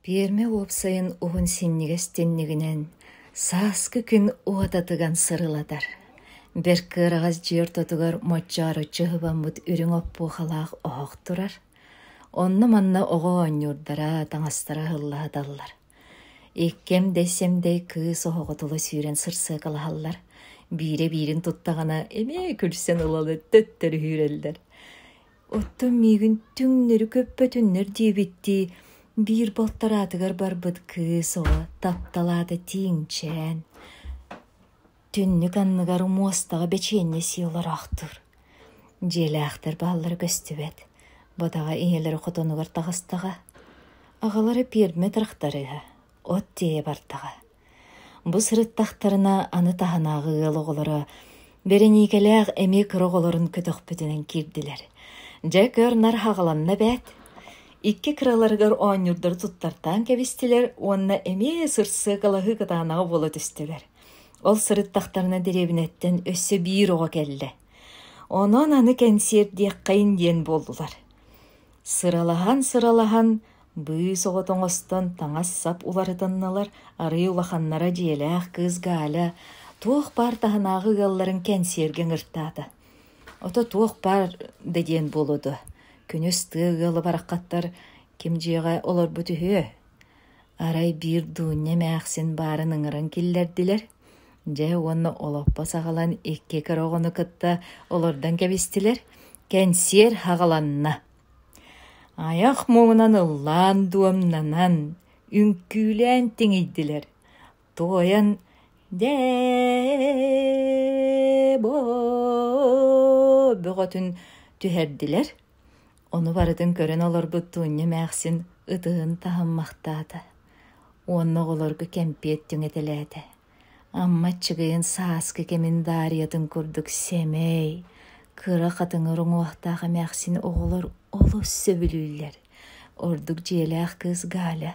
Пиэрмэ уопсайын уһун синньигэс тиннигинэн сааскы күн уота тыган сырылатар, бэрт кыараҕас дьиэ ортотугар моччооруччу ыһылламмыт үрүҥ оппуохалаах оһох турар, онно-манна оҕо оонньуурдара, таҥастара ыһыллаһыталлар. Иккиэм да исэмдэй кыыс оһоҕо тула сүүрэн сырсыакалаһаллар, биирэ биирин туттаҕына эмиэ күлсэн ылан төттөрү үүрэллэр. Оттон миигин түҥнэри көппөтүннэр диэбиттии, биир балтараатыгар барбыт кыыс оҕо тапталаата тииҥчээн, түннүк анныгар муостаҕа бэчиэнньэ сии олороохтуур. Дьиэлээхтэр бааллара көстүбэт, бытаҕа ийэлэрэ хотонугар таҕыстаҕа, аҕалара пиэрмэ тырахтарыыһа, от тиэйэ бардаҕа. Бу сырыттахтарына аны таһынааҕы ыал оҕолоро бэриниикэлээх эмиэ кыра оҕолорун көтөхпүтүнэн киирдилэр. Дьэ, көр, нар хаҕыланна эбээт. Икки кыраларыгар оонньуурдары туттартаан кэбистилэр уонна эмиэ сырсыакалаһыы кытаанаҕа буола түстүлэр. Ол сырыттахтарына дэриэбинэттэн өссө биир оҕо кэллэ. Онон аны кэнсиэр диэххэйин диэн буоллулар. Сыралаһан-сыралаһан Быыс оҕо тоҥостон таҥас-сап уларытыннылар, арыы улаханнара дьиэлээх кыыс Галя туох баар таһынааҕы ыалларын кэнсиэргэ ыҥыртаата. Ото туох баар да диэн буолуо дуо, күнүс тыа ыала бараххаттар ким дьиэҕэ олорбут үһүө. Арай биир дуунньа эмээхсин баарын ыҥыран киллэрдилэр. Дьэ уонна олоппо саҕалан икки кыра оҕону кытта олордон кэбистилэр. Кэнсиэр хаҕаланна. Айах муҥунан ыллаан дуомнанан, үҥкүүлээн тиҥийдилэр, тоойон «Дээ-бо» бөҕөтүн түһэрдилэр, ону барытын көрөн олорбут Туунньа эмээхсин ытыһын таһыммахтаата уонна оҕолорго кэмпиэт түҥэтэлээтэ: Амма Чыгыйын сааскы кэмин Дариятын курдук сэмэй, кыра хатыҥыр уҥуохтаах эмээхсин оҕолор олус сөбүлүүллэр. Ордук дьиэлээх кыыс Галя.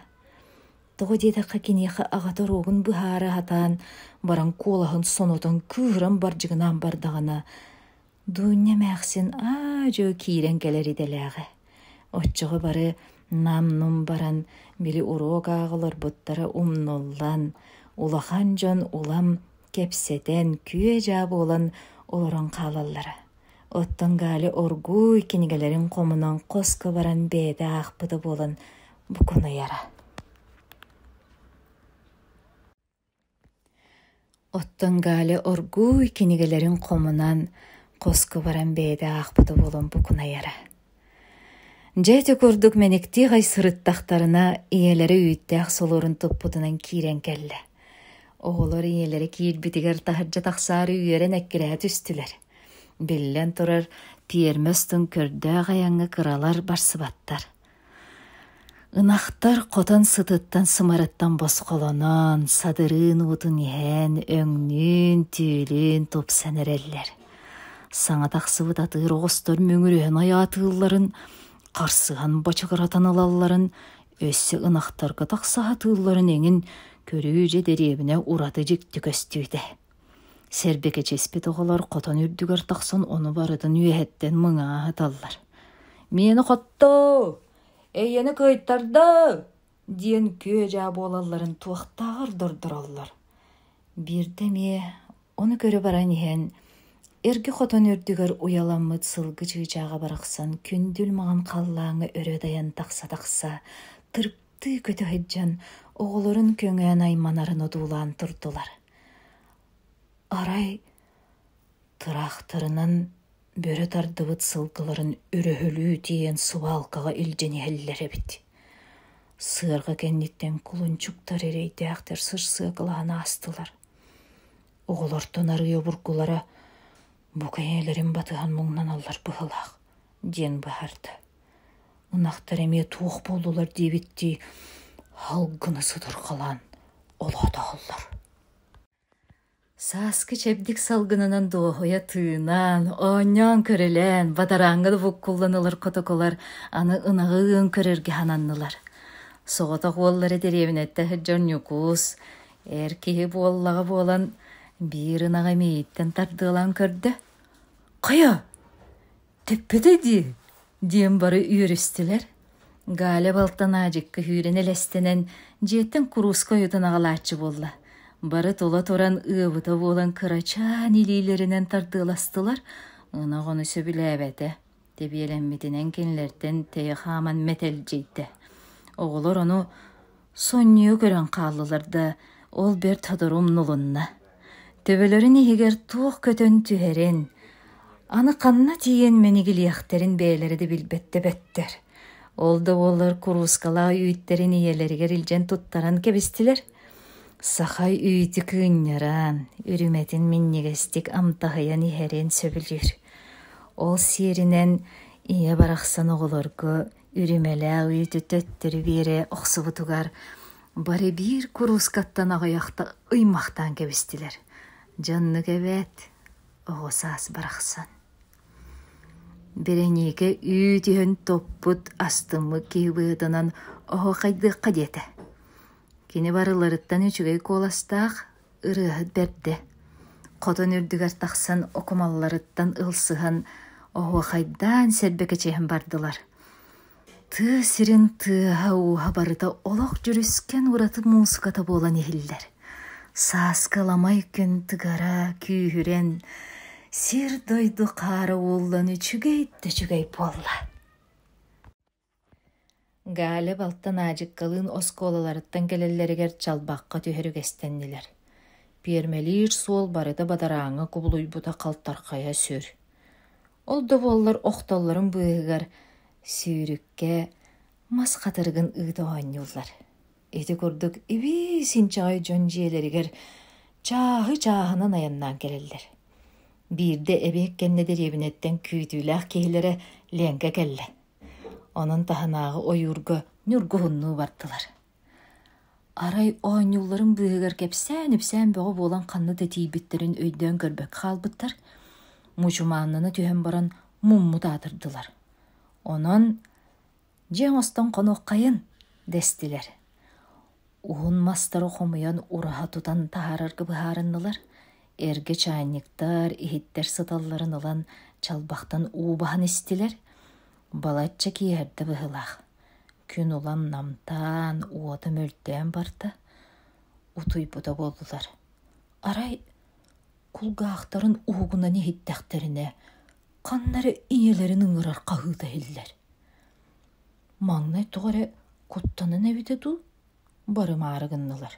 Тоҕо диэтэххэ киниэхэ аҕата оруогун быһаара сатаан баран куолаһын сонотон кыыһыран бардьыгынаан бардаҕына Дуунньа эмээхсин аа-дьуо киирэн кэлэр идэлээҕэ. Оччоҕо бары нам-нум баран били уруок ааҕа олорбуттара умнуллан, улахан дьон улам кэпсэтэн, күө-дьаа буолан олорон хаалаллара. Оттон Галя оргууй кинигэлэрин хомунан хоско баран бэйэтэ аахпыта буолан букунуйара. Оттон Галя оргууй кинигэлэрин хомунан хоско баран бэйэтэ аахпыта буолан букунайара. Дьэти курдук мэниктии хай сырыттахтарына ийэлэрэ үүттээх солорун туппутунан киирэн кэллэ. Оҕолор ийэлэрэ киирбитигэр таһырдьа тахсаары үөрэн эккирэһэ түстүлэр. Биллэн турар, тиэрмэс тун көрдөөх айаҥҥа кыралар барсыбаттар. Ынахтар хотон сытыттан сымарыттан босхолонон, садырыын уутун иһэн, өҥнүүн, түүлүн тупсан эрэллэр. Саҥа тахсыбыт атыыр оҕустар мөҥүрүһэн ойаатыылларын, харсыһан бочугуратан ылалларын, өссө ынахтарга тахса сатыылларын эҥин көрүү дьэ дэриэбинэ ураты дьикти көстүүтэ Сэрбэкэчэспит оҕолор хотон үрдүгэр тахсан ону барытын үөһэттэн мыҥааһыталлар: «Миэнэ хоттоо! Эйэни кыайтарда!» диэн күө-дьаа буолалларын туохтааҕар да ордороллор. Биирдэ эмиэ ону көрө баран иһэн эргэ хотон үрдүгэр уйаламмыт сылгы чыычааҕа барахсан күндүл маҕан халлааҥҥа өрө дайан тахса-тахса тырк тыы көтө сылдьан оҕолорун көҥөөн айманарын одуулаан турдулар арай тыраахтарынан бөрө тардыбыт сылгыларын өрөһөлүү тиэйэн субаалкаҕа илдьэн иһэллэр эбит сыарҕа кэнниттэн кулунчуктар эрэйдээхтэр сырсыакалаһан аастылар оҕолортон арыый обургулара бу кэйиэлэрин батыһан муҥнаналлар быһыылаах диэн быһаарда Ынахтар эмиэ туох буоллулар диэбиттии һал гына сытырҕалаан олоотоһоллор Сааскы чэбдик салгынынан дуоһуйа тыынан, оонньоон-көрүлээн, бадарааҥҥа да буккуллан ылар котоколор аны ынаҕын көрөргө сананнылар. Соҕотох уоллара дэриэбинэтэ сылдьар Ньукуус эр киһи буоллаҕа буолан биир ынаҕы мииһиттэн тардыалаан көрдө: «Хайа, Тэппитэ дии, диэн бары үөрүстүлэр. Галя балтан аадьыкка сүүрэн-элэстэнэн дьиэттэн курууска ойутун аҕалааччы буолла. Бары тола туран ыабыта буолан кырачаан илиилэринэн тардыаластылар, ынах ону сөбүлээбэтэ. Тэбиэлэммитинэн кинилэртэн тэйэ хааман мэтэлдьийдэ. Оҕолор ону Сонньуйа көрөн хааллылар да, ол бэрт сотору умнулунна. Төбөлөрүн иһигэр туох көтөн түһэрин, аны ханна тиийэн мэнигилиэхтэрин бэйэлэрэ да билбэттэ бэттэр. Ол да буоллар куруускалаах үүттэрин ийэлэригэр илдьэн туттаран кэбистилэр. Саха үүтү кыынньаран, үрүмэтин минньигэстик амтаһыйан иһэрин сөбүлүүр. Ол сиэринэн ийэ барахсан оҕолорго Иримэлээх үүтү төттөрү биэрэ охсубутугар бары биир куруускаттан аҕыйахта ыймахтаан кэбистилэр. Дьоннук эбээт, оҕо саас барахсан. Бэрэниикэ үүт иһэн топпут астыммыт киһи быһытынан оһо хайдыахха диэтэ. Кини барыларыттан үчүгэй куоластаах, ырыаһыт бэрдэ хотон үрдүгэр тахсан окумалларыттан ылсыһан оһуохайдаан сэрбэкэчэһэн бардылар тыа сирин тыаһа-ууһа барыта олох дьүрүскэн ураты муусуката буолан иһиллэр сааскы ламай күн тыгара күүһүрэн сир-дойду хаара ууллан үчүгэй да үчүгэй буолла Галя балтан Аадьыккалыын оскуолаларыттан кэлэллэригэр чалбахха түһэр үгэстэннилэр. Пиэрмэлиир суол барыта бадарааҥҥа кубулуйбута халтархайа сүр. Ол да буоллар охтоллорун быыһыгар сүүрүккэ мас хатырыгын ыыта оонньууллар. Ити курдук ибии синчэҕэй дьон дьиэлэригэр чааһы чааһынан айаннаан кэлэллэр. Биирдэ эбиэт кэннэ дэриэбинэттэн күүтүүлээх киһилэрэ Ленка кэллэ: Онон таһынааҕы ойуурга ньургуһуннуу бардылар. Арай оонньуулларын быыһыгар кэпсээн-ипсээн бөҕө буолан ханна да тиийбиттэрин өйдөөн көрбөккө хаалбыттар, мучумааннана түһэн баран муммут аатырдылар. Онон «Дьиэ оҥостон хонуоххайын» дэстилэр Уһун мастары хомуйан ураһа тутан таһаарарга быһаарыннылар. Эргэ чайниктар, иһиттэр сыталларын ылан чалбахтан уу баһан истилэр. Балачча киэһэрдэ быһыылаах. Күн улам намтаан, уота мөлтөөн барда. Утуйбута буоллулар. Арай кулгаахтарын уһугунан иһиттэхтэринэ, ханна эрэ ийэлэрин ыҥырар хаһыыта иһиллэр. Маҥнай тоҕо эрэ куттанан эбитэ дуу, барымаары гыннылар.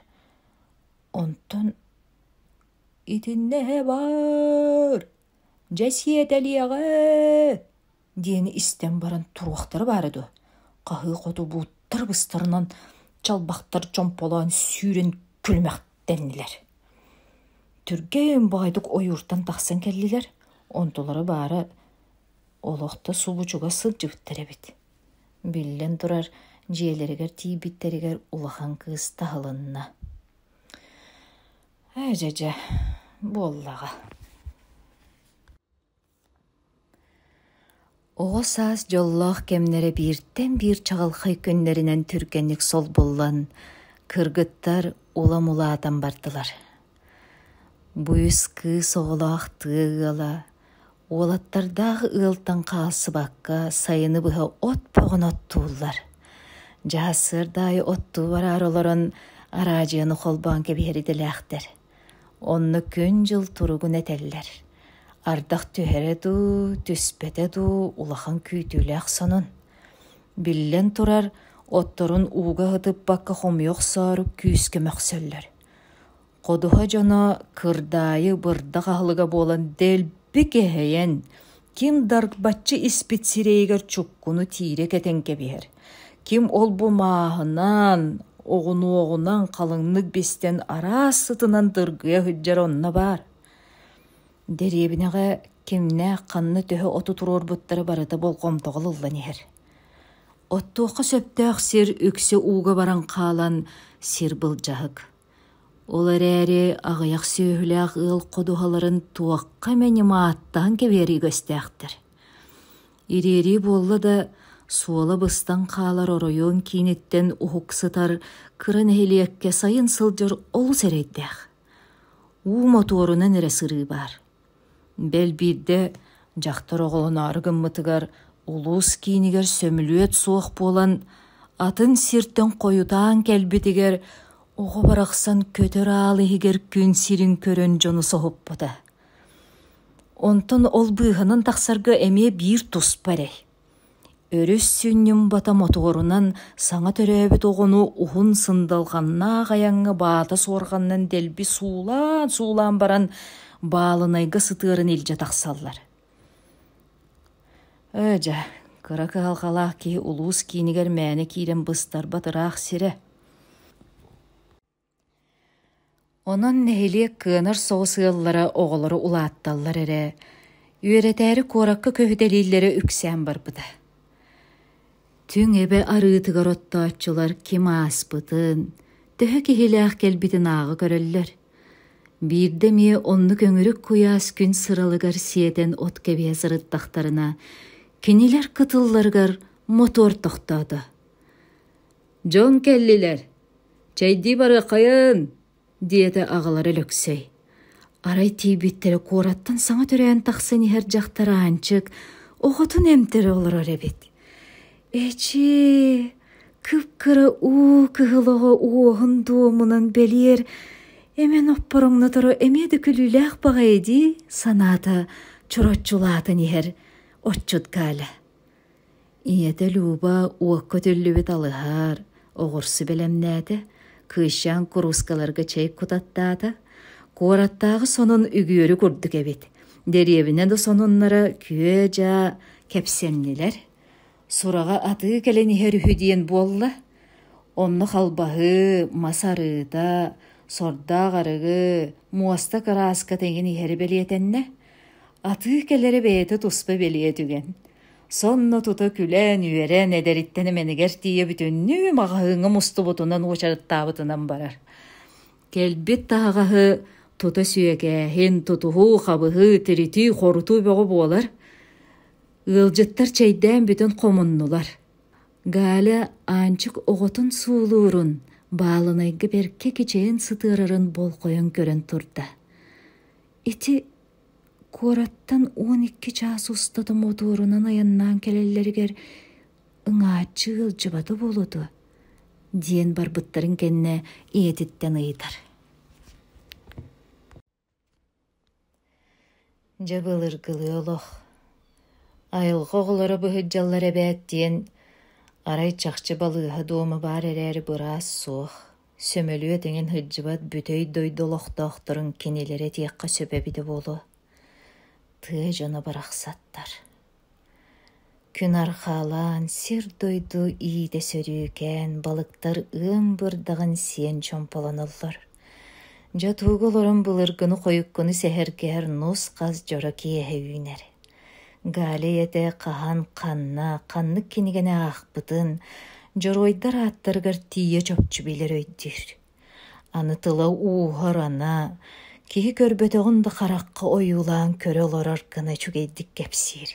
Онтон «Итиннэ баар, дьэ сиэтэлиэҕэ» диэни истэн баран туруохтара баара дуо, хаһыы хоту бууттар быстарынан чалбахтар чомполоон сүүрэн күлүмэхтэннилэр. Түргэн боойдук ойууртан тахсан кэллилэр, онтулара баара Олох да субучуга сылдьыбыттар эбит. Биллэн турар, дьиэлэригэр тиийбиттэригэр улахан кыыс таһылынна. Ээ дьэдьэ, буоллаҕа. Оҕо саас дьоллоох кэмнэрэ бииртэн биир чаҕылхай күннэринэн түргэнник солбуллан, кыргыттар улам улаатан бардылар. Быыс кыыс оҕолоох тыа ыала уолаттардаах ыалтан хаалсыбакка сайыны быһа от бөҕөнү оттууллар. Дьаһассыарда аайы оттуу бараары олорон араадьыйаны холбоон кэбиһэр идэлээхтэр. Онно күн-дьыл туругун этэллэр. Ардах түһэрэ дуу, түспэтэ дуу улахан күүтүүлээх сонун. Биллэн турар, отторун ууга ыһытыппакка хомуйа охсоору күүскэ мөхсөллөр. Ходуһа дьоно кырдаайы бырдах аһылыга буолан дэлби кэһэйэн, ким дарбаччы испит сирэйигэр чуккуну тиирэ кэтэн кэбиһэр, ким ол-бу мааһынан, оҕунуоҕунан халыҥнык бистэн араас сытынан дыргыйа сылдьар онно баар Дэриэбинэҕэ кимнээх ханна төһө оту туруорбуттара барыта болҕомтоҕо ыллан иһэр. Оттуохха сөптөөх сир үксэ ууга баран хаалан сир былдьаһык. Ол эрээри аҕыйах сүөһүлээх ыал ходуһаларын туохха эмэ ньымааттаан кэбиэрии үгэстээхтэр. Ириэрии буолла да суола быстан хаалар оройуон кииниттэн уһук сытар кыра нэһилиэккэ сайын сылдьар олус эрэйдээх. Уу мотуорунан эрэ сырыы баар. Бэл биирдэ дьахтар оҕолоноору гыммытыгар улуус киинигэр сөмүлүөт суох буолан атын сиртэн хойутаан кэлбитигэр оҕо барахсан көтөр аал иһигэр күн сирин көрөн дьону соһуппута. Онтон ол быыһанан тахсарга эмиэ биир туспа эрэй Өрүс сүнньүн бата мотуорунан саҥа төрөөбүт оҕону уһун сындалҕаннаах айаҥҥа баата суорҕанынан дэлби суулаан-суулаан баран баалынайга сытыарын илдьэ тахсаллар. Ээ дьэ, кыра кыһалҕалаах киһи улуус киинигэр мээнэ киирэн быстарбат ыраах сирэ Онон нэһилиэк кыанар соҕус ыаллара оҕолору улаатталлар эрэ, үөрэтээри куоракка көһүтэлииллэрэ үксээн барбыта. Түҥ эбэ арыытыгар оттооччулар ким ааспытын, төһө киһилээх кэлбитин ааҕа көрөллөр. Биирдэ эмиэ оннук өҥүрүк куйаас күн сыралыгар сиэтэн от кэбиһэ сырыттахтарына, кинилэр кытылларыгар мотуор тохтоото. дьон кэллилэр чэйдии барыаххайын диэтэ аҕалара Өлөксөй арай тиийбиттэрэ куораттан саҥа төрөөн тахсан иһэр дьахтар аанчык оҕотун эмтэрэ олорор эбит эчи кып-кыра уу кыһыл оҕо уоһун дуомунан бэлиэр эмэн оппороҥноторо эмиэ да күлүүлээх баҕайы дии санаата чороччулаатан иһэр отчут галя ийэтэ Люба уокка түллүбүт алыһар, оҕурсу бэлэмнээтэ, кыысчаан куруускаларга чэй кутаттаата, куораттааҕы сонун үгүөрү курдук эбит, дэриэбинэ да сонуннара күө-дьаа кэпсэннилэр, сураҕа атыы кэлэн иһэр үһү диэн буолла, онно халбаһы, мас арыыта, сордоох арыгы, муоста кырааска тэҥин иһэри бэлиэтэннэ, Атыы кэлэрэ бэйэтэ туспа бэлиэ түгэн. Сонно тута күлээн-үөрэн, эдэриттэн эмэнигэр тиийэ бүтүннүү маҕаһыыҥҥа мустубутунан уочараттаабытынан барар. Кэлбит таһаҕаһы тута сүөкээһин, тутуһуу, хабыһыы, тиритии, хорутуу бөҕө буолар. Ыалдьыттар чэйдээн бүтэн хомуннулар. Галя Аанчык оҕотун суулуурун, баалынайга бэркэ кичэйэн сытыарарын болҕойон көрөн турда. Ити куораттан уон икки чаас устата мотуорунан айаннаан кэлэллэригэр ыҥааччы ыалдьыбата буолуо дуо диэн барбыттарын кэннэ ийэтиттэн ыйытар дьэ былыргылыы олох айылҕа оҕолоро быһыддьаллар эбээт диэн арай чахчы балыыһа дуома баар эрээри быраас суох Сөмөлүөт эҥин сылдьыбат бүтэй дойду олохтоохторун кинилэри этиэххэ сөп эбитэ буолуо тыа дьоно барахсаттар Күн арҕаалаан сир-дойду иитэ-сөрүүкээн балыктар ыам бырдаҕын сиэн чомполонуллар Дьэ туга олорон былыргыны-хойуккуну сэһэргэһэр нус-хас дьоро киэһэ үүнэр Галя ийэтэ хаһан, ханна, ханнык кинигэни аахпытын, дьоруойдар ааттарыгар тиийэ чопчу билэр өйдүүр. Аны тыла-ууһа ырана, киһи көрбөтөҕүн да харахха ойуулаан көрө олорор гына үчүгэйдик кэпсиир.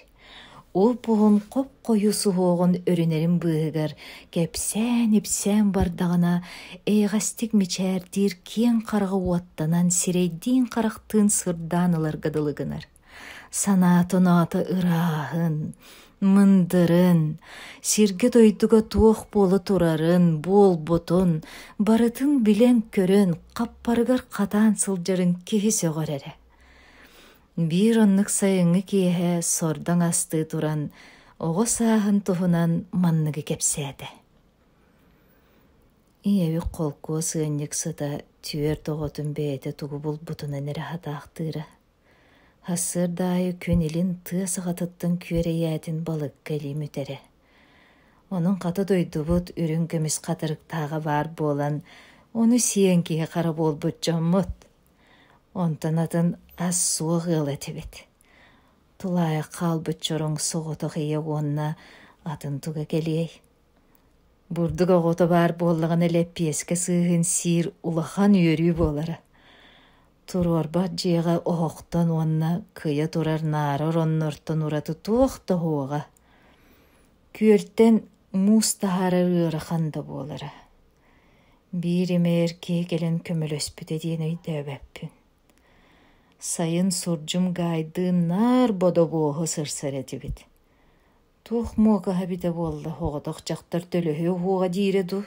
Ол буһун хоп-хойуу суһуоҕун өрүнэрин быыһыгар кэпсээн-ипсээн бардаҕына эйэҕэстик мичээрдиир киэҥ хараҕа уоттанан сирэйдиин-харахтыын сырдаан ыларга дылы гынар. санаата-унаата ырааһын, мындырын, сиргэ-дойдуга туох буола турарын, буолбутун, барытын билэн-көрөн, хаппарыгар хатаан сылдьарын киһи сөҕөр эрэ. Биир оннук сайыҥҥы киэһэ сордоҥ астыы туран, оҕо сааһын туһунан манныгы кэпсээтэ. Ийэбит холкуос ыанньыксыта түөрт оҕотун бэйэтэ тугу булбутунан эрэ хатаахтыыра. Сарсыарда аайы күн илин тыа саҕатыттан күөрэйээтин балыкка илии мүтэрэ. Онон хата дойдубут үрүҥ көмүс хатырыктааҕа баар буолан, ону сиэн киһи хара буолбут дьоммут. Онтон атын ас-суох ыал этибит. Тулаайах хаалбыт чороҥ соҕотох ийэ уонна атын туга кэлиэй Бурдук оҕото баар буоллаҕына лэппиэскэ сыыһын сиир улахан үөрүү буолара. Туруорбат дьиэҕэ оһохтон уонна кыйа турар наара ороннортон ураты туох да оһуоҕа. Күөлтэн муус таһаарар ыарахан да буолара. Биир имээр киһи кэлэн көмөлөспүтэ диэн өйдөөбөппүн. Сайын сурдьум Гайдыын наар бодобуоһу сырсар этибит. Туох муокаһа эбитэ буолла, оҕотох дьахтар төлөһүө уһуоҕа диирэ дуу,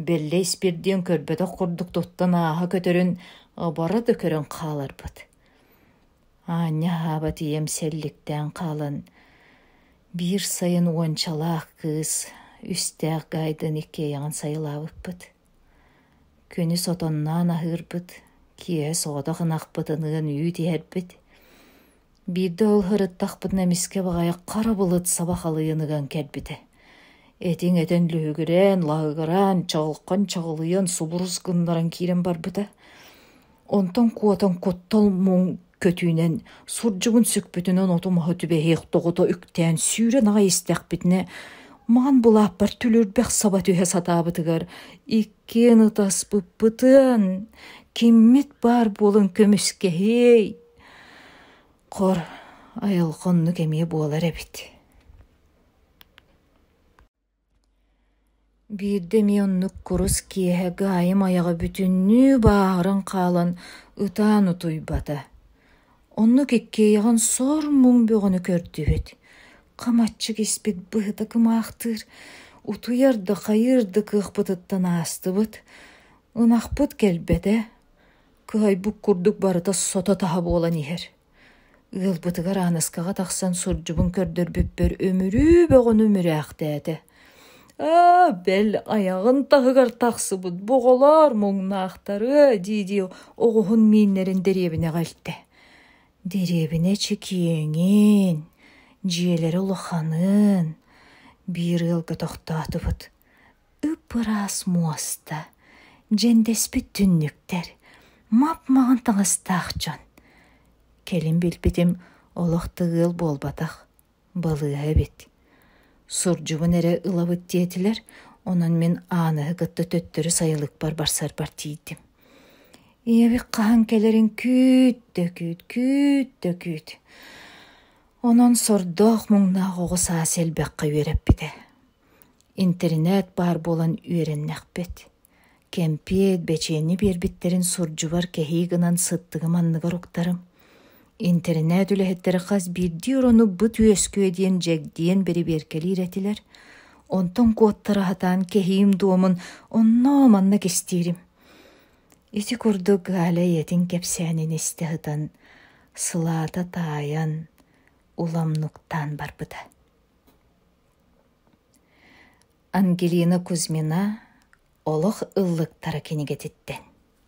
бэллэ испир диэн көрбөтөх курдук туттан ааһа көтөрүн оборо да көрөн хааларбыт. Аанньа аһааба тиийэм сэлликтээн хаалан, биир сайын уончалаах кыыс, үстээх Гайдын иккиэйэҕин сайылаабыппыт. Күнү сотонноон аһыырбыт, киэһэ соҕотох ынахпытын ыан үүт иһэрбит. Биирдэ ол сырыттахпытына эмискэ баҕайы хара былыт саба халыйыныган кэлбитэ. Этиҥ этэн лүһүгүрээн, лаһыгыраан, чаҕылхан чаҕылыйан, субурус гыннаран киирэн барбыта. Онтон куотан куттал муҥ көтүүнэн сурдьугун сүкпүтүнэн оту-маһы түбэһиэх доҕото үктээн сүүрэн аҕай истэхпитинэ маҥан былааппар түлүрбэх саба түһэ сатаабытыгар иккиэн ытаспыппытын киммит баар буолан көмүскэһиэй Хор айылҕа оннук эмиэ буолар эбит Биирдэ эмиэ оннук курус киэһэ Гаайым айаҕа бүтүннүү бааһыран хаалан ытаан утуйбата Оннук иккиэйэҕин сор-муҥ бөҕөнү көрдүбүт Хамаччык испит быһыта кымаахтыыр утуйар да хайыыр да кыахпытыттан аастыбыт Ынахпыт кэлбэтэ Кыһайбыт курдук барыта сото-таһа буолан иһэр. Ыалбытыгар Ааныскаҕа тахсан сурдьубун көрдөрбүппэр өмүрүү бөҕөнү мүрээхтээтэ. Аа, бэл айаҕын таһыгар тахсыбыт боҕолоор муҥнаахтары дии-дии оҕуһун мииннэрин дэриэбинэҕэ илтэ. Дэриэбинэ чэкиэҥин, дьиэлэрэ улаханын биир ыалга тохтоотубут. Ып-ыраас муоста, дьэндэспит түннүктэр, мап-маҕан таҥастаах дьон. Кэлин билбитим олох да ыал буолбатах, балыыһа эбит. Сурдьубун эрэ ылабыт диэтилэр, онон мин Ааныһы кытта төттөрү сайылыкпар барсарбар тиийдим. Ийэбит хаһан кэлэрин күүт да күүт, күүт да күүт. Онон сордоох-муҥнаах оҕо саас элбэххэ үөрэппитэ. Интэринээт баар буолан үөрэннэхпит, кэмпиэт, бэчиэнньэ биэрбиттэрин сурдьубар кэһии гынан сыттыгым анныгар уктарым. Интэринээт үлэһиттэрэ хас биирдии орону быт үөскүө диэн дьэгдиэн бэрибиэркэлиир этилэр. Онтон куоттара сатаан кэһиим дуомун онноо манна кистиирим. Ити курдук Галя ийэтин кэпсээнин истэ сытан, сылаата таайан, уламнуктаан барбыта. Ангелина Кузьмина Олох ыллыктара кинигэтиттэн